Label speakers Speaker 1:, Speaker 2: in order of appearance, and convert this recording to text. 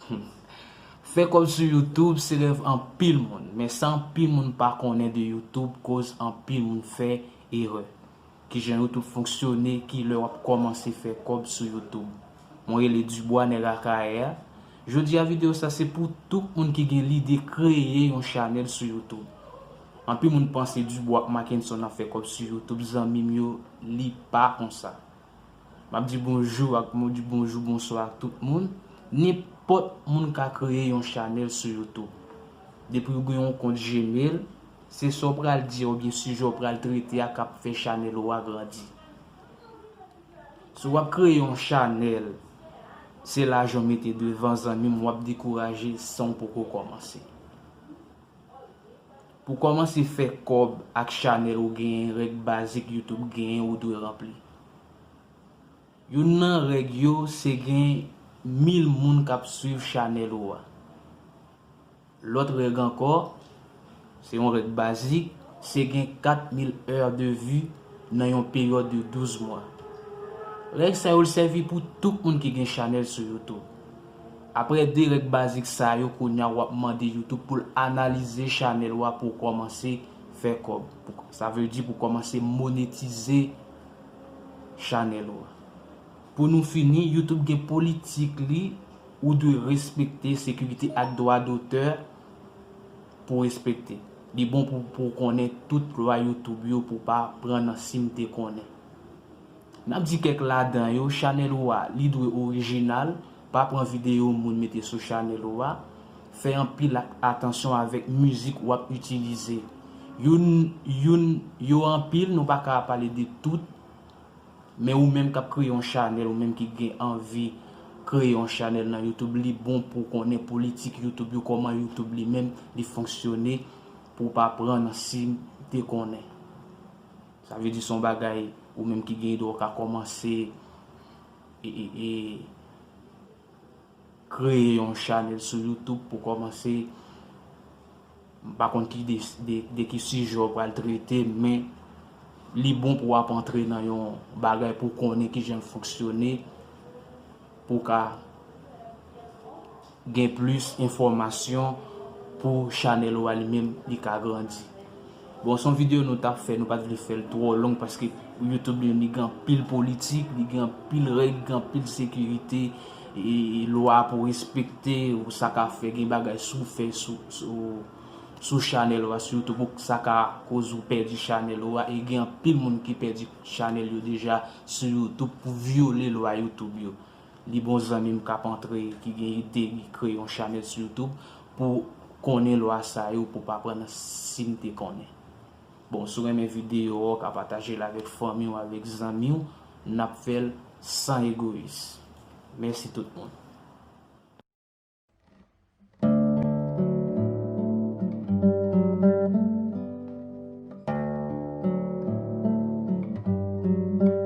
Speaker 1: Humm. Fè kòb sou youtube se rèv anpil moun men sa anpil moun pa konnen de youtube koz anpil moun fè erè. Kijan youtube fonksyone kilè wap kòmanse fè kòb sou youtube. Mwen rele Dubois nèg akayè a. Jodi a video sa se pou tout moun ki gen lide kreye yon chanèl sou youtube. Anpil moun panse Dubois ak Mackenson ap fè kòb sou youtube zanmim yo li pa konsa. Map di bonjou ak mou di bonjou bonswa ak tout moun nenpòt moun ka kreye yon chanèl sou YouTube depiw gen yon kont gmail se sa w pral di a oubyen sijè w pral trete a kap fè chanèl ou a grandi si wap kreye yon chanèl se lajan w mete devan zanmim wap dekouraje sanw poko kòmanse. Pou kòmanse fè kòb ak chanèl ou genyen règ bazik youtube genyen ou dwe ranpli. Youn nan règ yo se gen 1000 moun kap swiv chanèl ou a. Lòt règ ankò, se yon règ bazik, se gen 4000 heures de vue nan yon peryòd de 12 mwa. Règ sa yo l sèvi pou tout moun ki gen chanèl sou youtube. Aprè 2 règ bazik sa yo kounya wap mande youtube poul analize chanèl ou a pou w kòmanse fè kòb sa vle di pou w kòmanse monetize chanèl ou a pou nou fini youtube gen politik li ou dwe respekte sekirite ak dwa dotè pou w respekte li bon pou w konnen tout lwa youtube yo pou w pa pran nan sim te konnen. Nap di kèk ladan yo, chanèl ou a li dwe orijinal, pa pran videyo moun mete sou chanèl ou a, fè anpil atansyon avèk mizik wap itilize. Youn youn yo anpil nou pa ka pale de tout, men ou menm kap kreye yon chanèl ou menm ki gen anvi kreye yon chanèl nan youtube li bon pou konnen politik youtube yo kòman youtube li menm li fonksyone pou pa pran nan sim te konnen. Sa vle di son bagay ou menm ki gen idwa ou ka komanse e kreye yon chanel sou youtube pou komanse m pa konn ki de ki sijè ou pral trete men li bon pou ap antre nan yon bagay pou konnen kijan l fonksyone pou ka Gen plis enfòmasyon pou chanèl ou a li menm li ka grandi. Bon son video nou tap fè nou pat vle fèl twò long paske YouTube li menm li gen anpil politik li gen anpil règ gen anpil sekirite e lwa pou respekte ou sa ka fè gen bagay sou fè sou sou chanèl ou a sou YouTube ou sa ka koz ou pèdi chanèl ou a e gen anpil moun ki pèdi chanèl yo deja sou YouTube pou vyole lwa YouTube yo. Li bon zanmim kap antre ki gen ide li kre yon chanel sou youtube pou konnen lwa sa yo pou pa pran nan sim te konnen bon sou renmen video ok a patajel avek fanmiw avek zanmiw nap fel san egoyis mèsi tout moun.